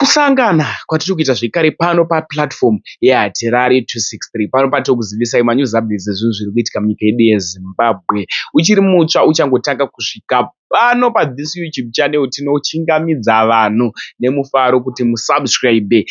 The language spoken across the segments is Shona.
Kusangana kwatiri kuita zvekare pano pa platform ye Hatirari 263 pano patiri kuzivisai ma news updates ezvinhu zviri kuitika munyika yedu ye Zimbabwe. Uchiri mutsva uchangotanga kusvika pano pa this YouTube channel tinochingamidza vanhu nemufaro kuti mu subscribe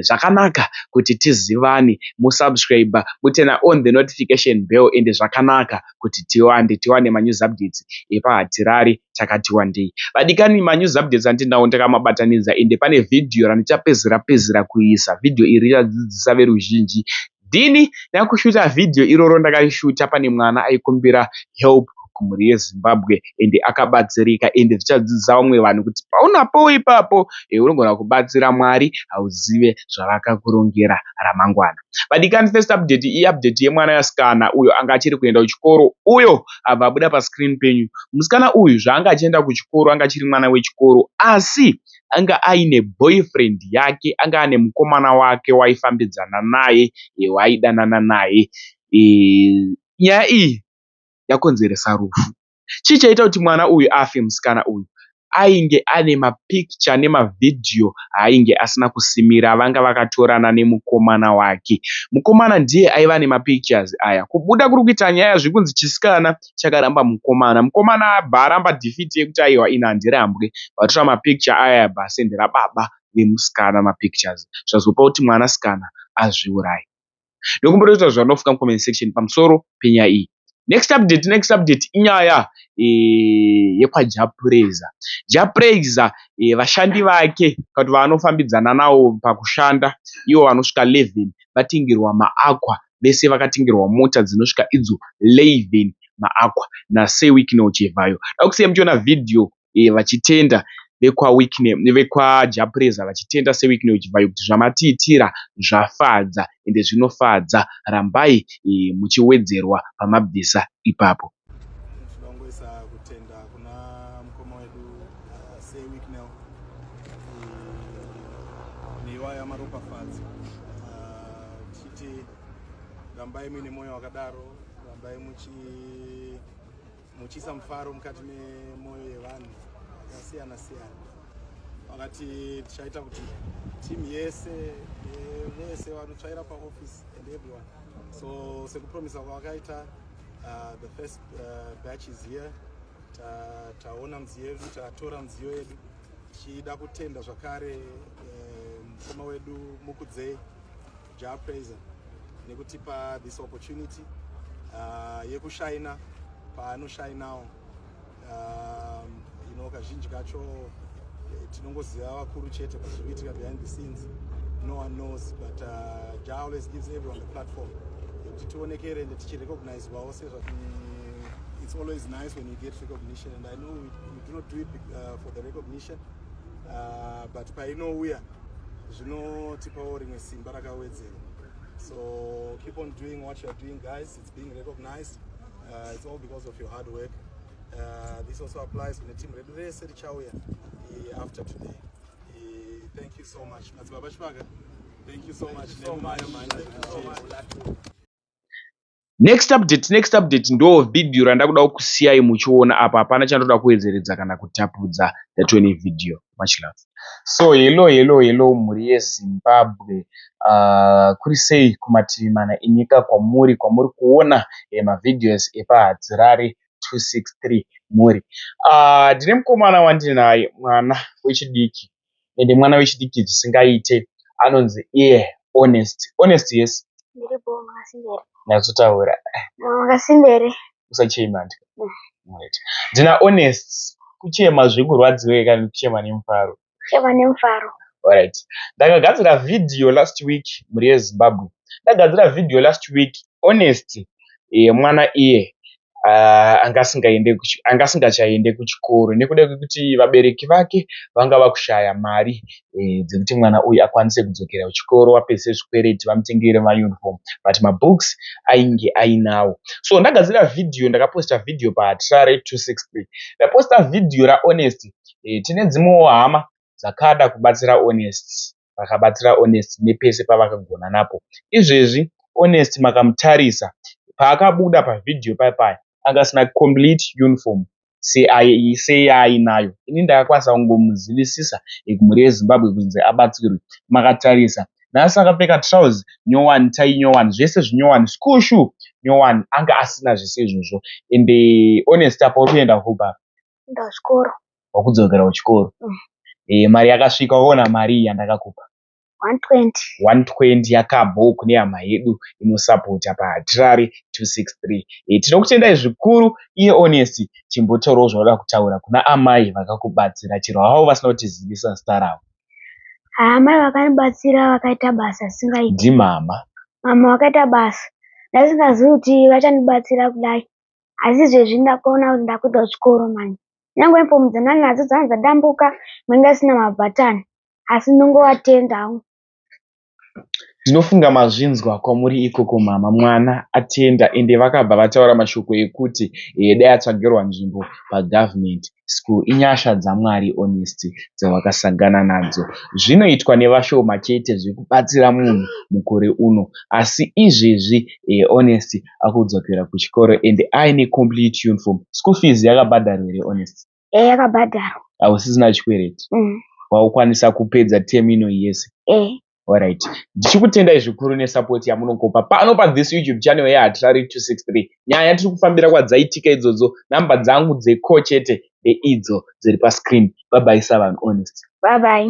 zvakanaka kuti tizivane mo subscriber moturner on the notification bell ende zvakanaka. kuti tiwande tiwane ma news updates epa hatirari takati wandei vadikani ma news updates andinawo ndakamabatanidza ende pane video randichapedzera pedzera kuisa video iri richadzidzisa veruzhinji dini ndakushuta video iroro ndakarishuta pane mwana aikumbira help kumhuri yezimbabwe ende akabatsirika ende zvichadzidzisa vamwe vanhu kuti paunapowo ipapo eh, unogona kubatsira mwari hauzive zvavakakurongera ramangwana Vadikani first update i update yemwana yasikana uyo anga achiri kuenda kuchikoro uyo abva abuda pa screen penyu. Musikana uyu zvaanga achienda kuchikoro anga achiri mwana wechikoro asi anga aine boyfriend yake anga ane mukomana wake waifambidzana naye waaidanana naye. Nyaya iyi yakonzeresa rufu. Chii chaita kuti mwana uyu afe? Musikana uyu ainge ane mapikicha nemavhidhiyo aainge asina kusimira avanga vakatorana nemukomana wake. Mukomana ndiye aiva nemapikichazi aya. Kubuda kuri kuita nyaya zviri kunzi chisikana chakaramba mukomana. Mukomana abva aramba dhifiti yekuti aiwa ini handirambwe. Vatora mapikicha aya abva asendera baba vemusikana mapikichazi zvazopa kuti mwanasikana azviuraye. ndokumbira kuita zvanofunga mucomment section pamusoro penyaya iyi next update next update inyaya e, yekwajapureza japureza e, eh, vashandi vake kati vaanofambidzana nawo pakushanda ivo vanosvika 11 vatingirwa maakwa vese vakatingirwa mota dzinosvika idzo 11 maakwa nasewikino chivhayo dakusiya muchiona vhidhiyo vachitenda vekwaJapreza vachitenda seWicknell Chivhayo kuti zvamatiitira zvafadza ende zvinofadza rambai muchiwedzerwa pamabvisa ipapo. Rambai muine moyo wakadaro rambai muchi muchiisa mufaro mukati memwoyo yevanhu yakasiyana siyana vakati tichaita kuti team yese eh, vese vanotsvaira paoffice and everyone so sekupromisa kwavakaita uh, the first uh, batch is here taona mudziyo yedu tatora mudziyo yedu tichida kutenda zvakare eh, mukoma wedu mukudzei Jah Prayzah nekutipa this opportunity uh, yekushaina paanoshainawo um, you know kazhinji kacho eh, tinongoziva vakuru chete pazvikuitika behind the scenes no one knows but uh, Jah always gives everyone the platform yekuti tionekere ende tichirecognizwawo sezva mm, it's always nice when you get recognition and I know we, we do not do it uh, for the recognition uh, but painouya zvinotipawo rimwe simba rakawedzera so keep on doing what youare doing guys it's being recognized uh, it's all because of your hard work uh, this also applies kune team redu rese richauya after today thank you so much madzibaba chipaka thank you so much nemayo manje Next update next update ndoo video randakuda kukusiyai muchiona apa hapana chandoda kuwedzeredza kana kutapudza that any video much love. So hello hello hello mhuri yeZimbabwe uh, kuri sei kumativi mana enyika kwamuri kwamuri kuona eh, mavideos epahadzirari 263 mhuri uh, ndine uh, mukomana wandinaye mwana wechidiki ende mwana wechidiki zvisingaite anonzi iye honest honest yes nyatsotaura usachema ndi ndina honest kuchema zvekurwadziwei kana kuchema nemufaro kuchema nemufaro Alright. Ndakagadzira video last week muri yeZimbabwe. Ndagadzira video last week honest mwana iye anga asingachaende kuchikoro nekuda kwekuti vabereki vake vanga vakushaya mari dzekuti mwana uyu akwanise kudzokera kuchikoro apedze zvikwereti vamutengere mayunifomu but mabooks ainge ainawo. So ndagadzira vhidhiyo ndakaposita vhidhiyo paTrare263 ndaposita vhidhiyo raHonest tine dzimwewo hama dzakada kubatsira Honest. vakabatsira Honest nepese pavakagona napo. Izvezvi Honest makamutarisa paakabuda pavideo paye paye anga asina complete uniform seyaainayo. Ini ndakakwanisa kungomuzivisisa mhuri yeZimbabwe kunzi abatsirwe. Makatarisa nhasi akapfeka trouse nyowani, tie nyowani, zvese zvinyowani, school shoe nyowani. Anga asina zvese izvozvo ende Honest apa uri kuenda hope apa. Nda kuchikoro. Wakudzokera kuchikoro. Mm. Eh, mari yakasvika waona mari iyi yandakakupa. 120. 120 yakabho kune hama yedu inosapota pahatirari 263. Eh, tinokutendai zvikuru iye Honest chimbotorawo zvaunoda kutaura kuna amai vakakubatsira chero havo vasina kutizivisa zita ravo. Amai vakanibatsira vakaita basa risingaiti. Ndimama. Mama vakaita basa ndasingazivi kuti vachandibatsira kudai asi izvezvi ndakuona kuti ndakuita chikoro manje nyangwe uniform dzanani nadzo dzanga dzadambuka manga asina mabhatani asi ndongovatenda hangu ndinofunga mazvinzwa kwamuri ikoko mama mwana atenda ende vakabva vataura mashoko ekuti eh, dai atsvagirwa nzvimbo pagovernment school inyasha dzamwari honestly dzawakasangana nadzo zvinoitwa nevashoma chete zvekubatsira munhu mukore uno asi izvezvi honestly akudzokera kuchikoro and aine complete uniform school fees yakabhadharwa here honestly Ehe yakabhadharwa. Hausisina chikwereti? Umm. Waukwanisa kupedza term ino yese? Ehe. Alright. Ndichikutendai zvikuru nesupport yamunokopa pano pa this YouTube channel ya Hatirari 263. Nyaya tiri kufambira kwadzaitika idzodzo, number dzangu dzeko chete ndeidzo dziri pa screen. Bye bye Savanhu Honest. Bye bye.